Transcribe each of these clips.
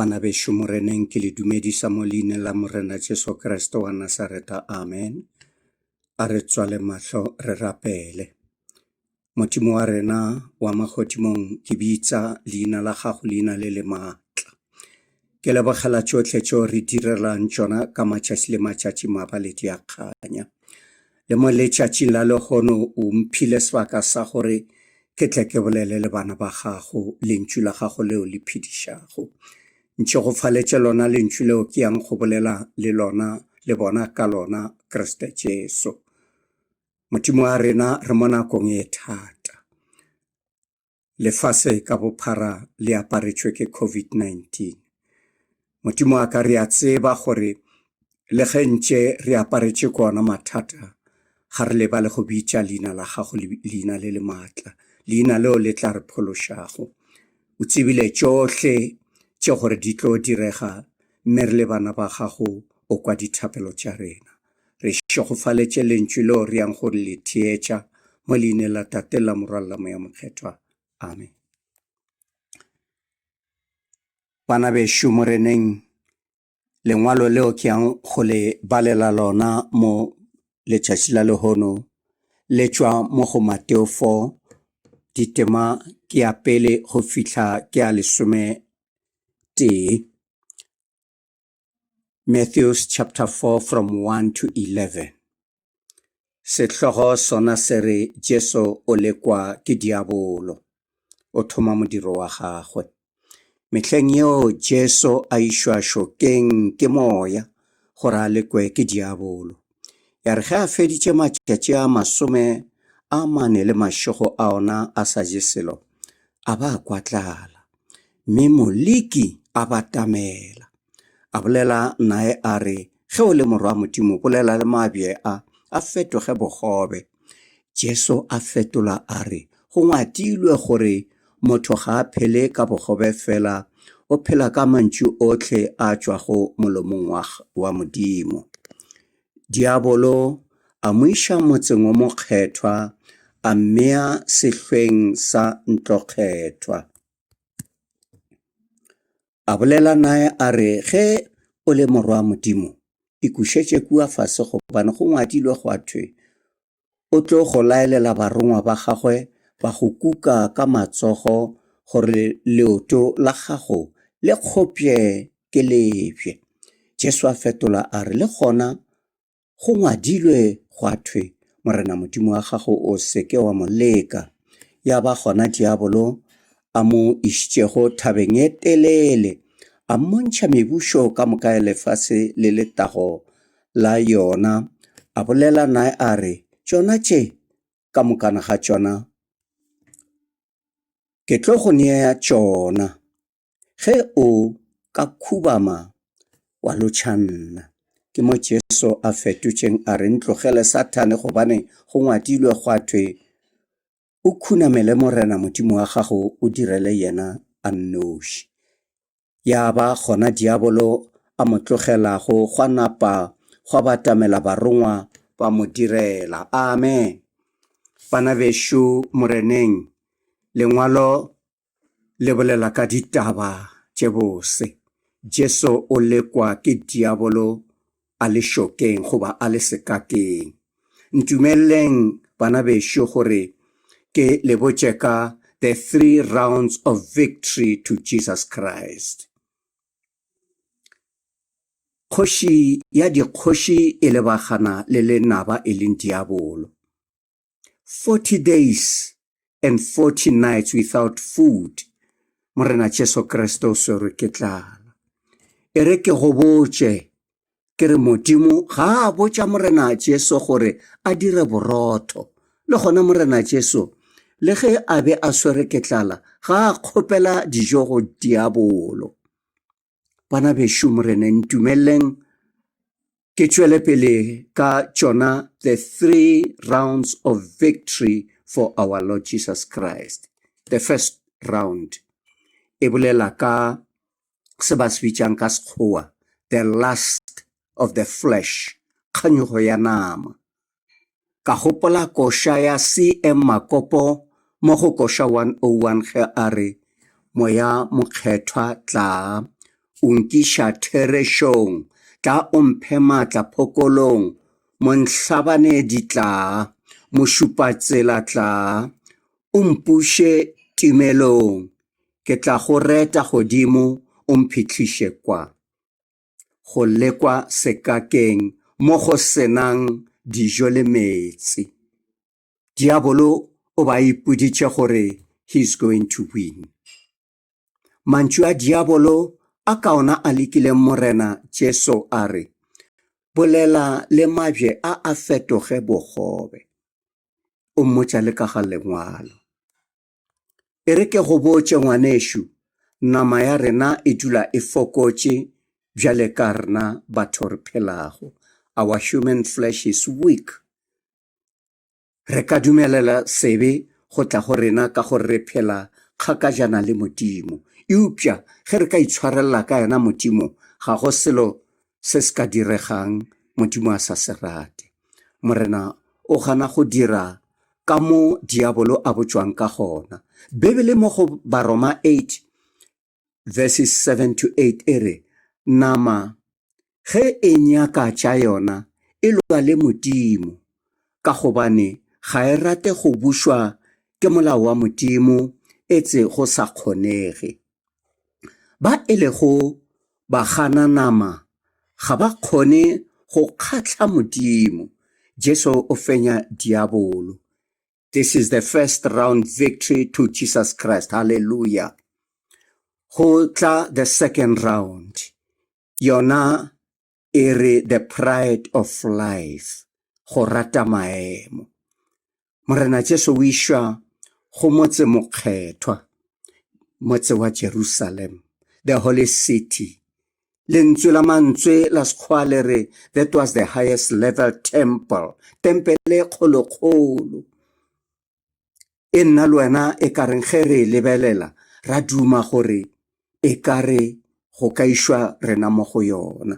Bana bešo Moreneng ke le dumedisa mo leine la Morena Jesu Kriste wa Nasareta. Amen. A re tswale mahlo re rapele. Modimo wa rena wa magodimong ke bitsa leina la gago leina le le maatla ke lebogela tšohle tšeo re direlang tšona ka matšatši le matšatši maba le diakganya le mo letšatšing la lehono o mphile sebaka sa gore ke tle ke bolele le bana ba gago lentšu la gago leo le phedišago ntše go faletše lona lentšu leo ke yang go bolela le lona le bona ka lona kriste jesu Modimo wa rena re mo nakong e thata. Lefase ka bophara le aparetšwe ke COVID-19. Modimo wa ka re a tseba gore le ge ntše re aparetše ko ona mathata ga re lebale go bitša leina la gago leina le le maatla leina leo le tla re phološago o tsebile tšohle tše gore di tlo direga mme re le bana ba gago o kwa dithapelo tša rena Re šegofaletše lentšu leo re yang go le theetša mo leineng la Tate la Morwa la Moya Mokgethwa. Amen. Bana bešo moreneng, lengwalo leo ke yang go le balela lona mo letšatši la lehono le tšwa mo go Mateo 4 ditema ke ya pele go fihla ke ya lesome tee Matthews chapter 4 from 1 to 11. Sehlogo sona se re Jesu o lekwa ke diabolo. O thoma modiro wa gagwe. Mehleng yeo Jesu a išwa šokeng ke moya gore a lekwe ke diabolo. Ya re ge a feditše matšatši a masome a mane le mašego a ona a sa je selo, a ba a kwa tlala. Mme Moliki a batamela. A bolela nae a re, Ge o le morwa Modimo, bolela le mabje a, a fetoge bogobe. Jesu a fetola a re, Go ngwadilwe gore, Motho ga a phele ka bogobe fela, o phela ka mantšu ohle a tšwago molomong wa, wa Modimo. Diabolo a mo iša motseng o mokgethwa, a mmea sehlweng sa ntlokgethwa. A bolela naye a re, Ge o le Morwa wa Modimo, ikušetše kua fase gobane go ngwadilwe gwa thwe, O tlo go laelela barongwa ba gagwe ba go kuka ka matsogo gore leoto la gago le kgopšwe ke lebje. Jesu a fetola a re, Le gona Go ngwadilwe gwa thwe, Morena Modimo wa gago o se ke wa mo leka. Ya ba gona diabolo a mo išitšego thabeng e telele, a mmontšha mebušo ka moka ya lefase le letago la yona, a bolela nae a re, Tšona tše, ka mokana ga tšona, ke tlo go nea tšona. Ge o ka khubama wa lotšha nna. Ke mo Jesu a fetotšeng a re, Ntlogele Sathane gobane go ngwadilwe gwa thwe, O khunamele Morena Modimo wa gago o direle yena a nnoši. Ya ba gona diabolo a mo tlogelago gwa napa gwa batamela barongwa ba mo direla. Amen. Bana bešo Moreneng, lengwalo le bolela ka ditaba tše bose. Jesu o lekwa ke diabolo a le šokeng goba a le sekateng. Ntumeleleng bana bešo gore ke le botše ka the three rounds of victory to Jesus Christ. Kgoši ya dikgoši e lebagana le lenaba e leng diabolo. 40 days and 40 nights without food morena jesu kriste o swerwe ke tlala e re ke go botše ke re modimo ga a botša morena jesu gore a dire borotho le gona morena jesu le ge a be a swere ke tlala ga a kgopela dijo go diabolo bana bešo morene ntumeleleng ke tšwele pele ka tšona the three rounds of victory for our lord jesus christ the first round e bolela ka se ba se bitšang ka sekgowa the last of the flesh kganyogo ya nama Ka gopola koša ya CM Makopo mo go koša 101 ge a re, Moya Mokgethwa tlaa, o nkiša therešong, tlaa o mphe maatla phokolong, Monhlabanedi tlaa, Mošupatsela tlaa, o mpuše timelong, ke tla go reta godimo o mphihliše kwa. go lekwa sekakeng mo go senang dijo le meetse. Diabolo o ba ipoditše gore he is going to win. Mantšu a diabolo a kaona a lekile Morena Jesu a re, Bolela le mabje a a fetoge bogobe. O mmotša le ka ga lengwalo. E re ke go botše ngwanešu, nama ya rena e dula e fokotše bjale ka rena batho re phelago. Our human flesh is weak. Re ka dumelela sebe go tla go rena ka gore re phela kgakajana le Modimo. Eupša ge re ka itshwarelela ka yena Modimo, ga go selo se se ka diregang Modimo a sa se rate. Morena o gana go dira ka mo Diabolo a botšwang ka gona. Bibele mo go Baroma 8 verses 7 to 8 e re, Nama ge e nyaka tša yona e lwa le Modimo, ka gobane ga e rate go bušwa ke molao wa Modimo, etse go sa kgonege. ba e lego bagananama ga ba kgone go kgatla Modimo. Jesu o fenya diabolo. This is the first round victory to Jesus Christ. Hallelujah. Go tla the second round. Yona e re the pride of life go rata maemo morena jesu o išwa go motse mokgethwa motse wa jerusalem the holy city lentswe la mantswe la sekgwa le re that was the highest level temple tempele kgolokgolo e nna le wena e ka reng ge re e lebelela ra duma gore e ka re go ka išwa rena mo go yona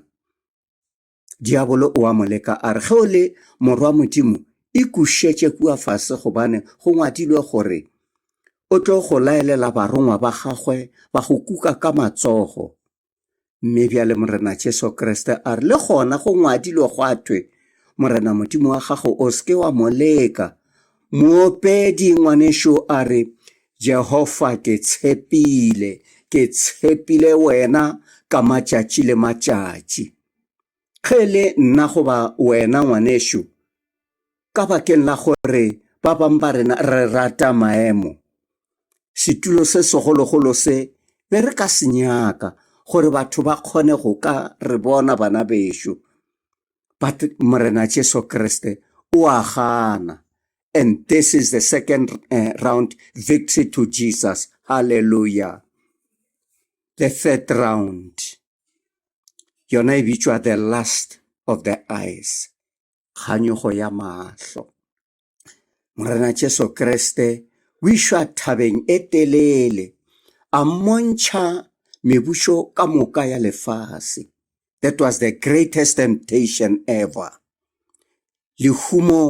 diabolo o a mo leka a re ge o le morwa modimo e kušetše kua fase gobane go ngwadilwe gore o tlo go laelela barongwa ba gagwe ba go kuka ka matsogo Mme bjale Morena Jesu Kriste a re, le gona go ngwadilwe gwa thwe, Morena Modimo wa gago o seke wa mo leka. Moopedi ngwanešo a re, Jehova ke tshepile, ke tshepile wena ka matšatši le matšatši. Ge e le nna goba wena, ngwanešu, ka bakeng la gore ba bang ba rena re rata maemo, setulo se segologolo se, be re ka se nyaka, gore batho ba kgone go ka re bona bana bešo. But Morena Jesu Kriste o a gana. And this is the second eh, round victory to Jesus. Hallelujah. The third round. yona e bitšwa the last of the eyes kganyogo ya mahlo morena jesu kriste o išwa thabeng e telele a mmontšha mebušo ka moka ya lefase that was the greatest temptation ever Lehumo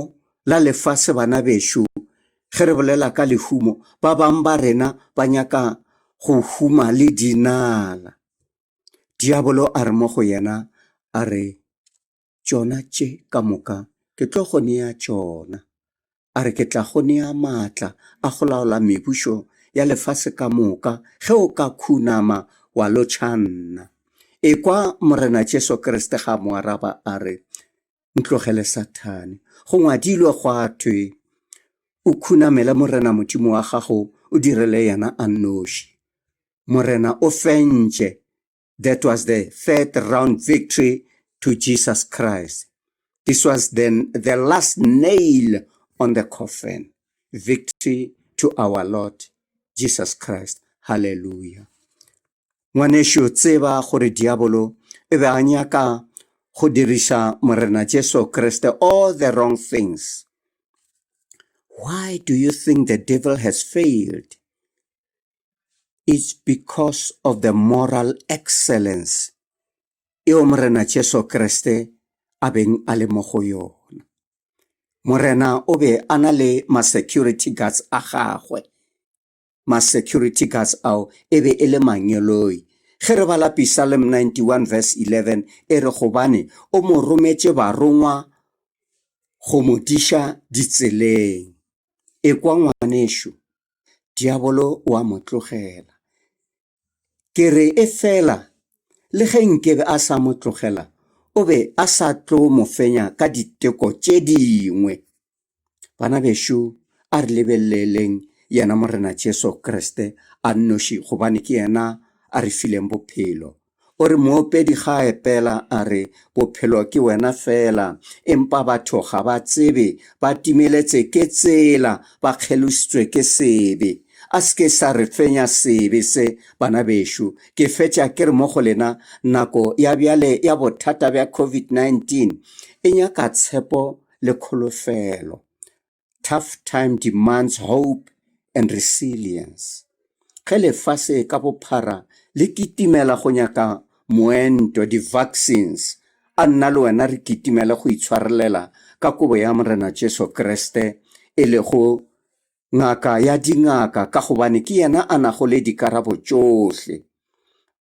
la lefase Bana bešo, ge re bolela ka lehumo, ba bang ba rena ba nyaka go huma le dinala. Diabolo a re mo go yena, a re, Tšona tše ka moka ke tlo go nea tšona. A re, Ke tla go nea maatla a go laola mebušo ya lefase ka moka ge o ka khunama wa lotšha nna. Ekwa Morena Jesu Kriste ga a mo araba, a re, ntlogele sathane go ngwadilwe gwa thwe o khunamele morena modimo wa gago o direle yena a noši morena o fentše that was the third round victory to jesus christ this was the, the last nail on the coffin victory to our lord jesus christ hallelujah Ngwanešu, tseba gore diabolo e be a nyaka go diriša Morena Jesu Kriste all the wrong things. Why do you think the devil has failed? It's because of the moral excellence eo Morena Jesu Kriste a beng a le mo go yona. Morena o be a na le ma-security guards a gagwe ma-security guards ao e be e le manyoloi. Ge re bala Pisalm 91 verse 11 e re gobane o mo rometše barongwa go mo diša ditseleng. Ekwa ngwanešu, diabolo o a mo tlogela. Ke re efela, le ge nkebe a sa mo tlogela, o be a sa tlo mo fenya ka diteko tše dingwe. Bana bešo, a re lebeleleng yena Morena Jesu Kriste a nnoši gobane ke yena a re fileng bophelo. O re moopedi ga a epela a re, Bophelo ke wena feela. Empa batho ga ba tsebe, ba timeletse ke tsela, ba kgelositswe ke sebe. A se ke sa re fenya sebe se, bana bešo. Ke fetša ke re mo go lena, nako ya bjale ya bothata bja COVID-19 e nyaka tshepo le kholofelo. Tough Time Demands Hope and Resilience, Ge lefase ka bophara le kitimela go nyaka moento, di-vaccines, a nna le wena re kitimele go itshwarelela ka kobo ya Morena Jesu Kriste, e lego Ngaka ya dingaka, ka gobane ke yena a nago le dikarabo tšohle.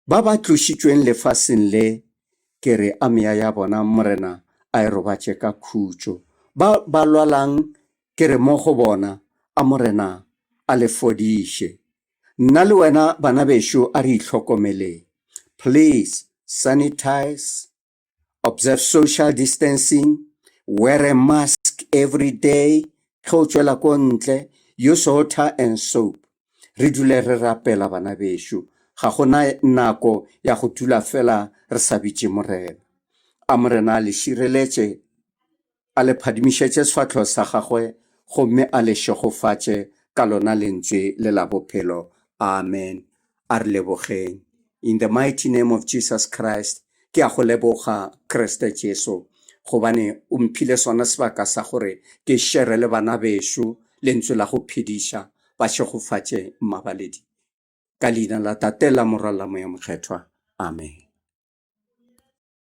Ba ba tlošitšweng lefaseng le, ke re a meya ya bona Morena a e robatše ka khutšo. Ba ba lwalang, ke re mo go bona a Morena a le fodiše. Nna le wena bana bešo a re ihlokomeleng. Please sanitize observe social distancing, wear a mask every day, ge o tšwela ko ntle, use water and soap. Re dule re rapela bana bešo, ga gona nako ya go dula fela re sa bitše Morena. A Morena a le šireletše. a le phadimišetše sefahlogo sa gagwe gomme a le šegofatše ka lona Lentswe le la Bophelo. Amen. A re lebogeng. In the mighty name of Jesus Christ, ke a go leboga, Kriste Jesu, gobane o mphile sona sebaka sa gore ke šere le bana bešo Lentswe la go phediša, ba šegofatše mabaledi. Ka Leina la Tate, la Morwa, la Moya Mokgethwa. Amen.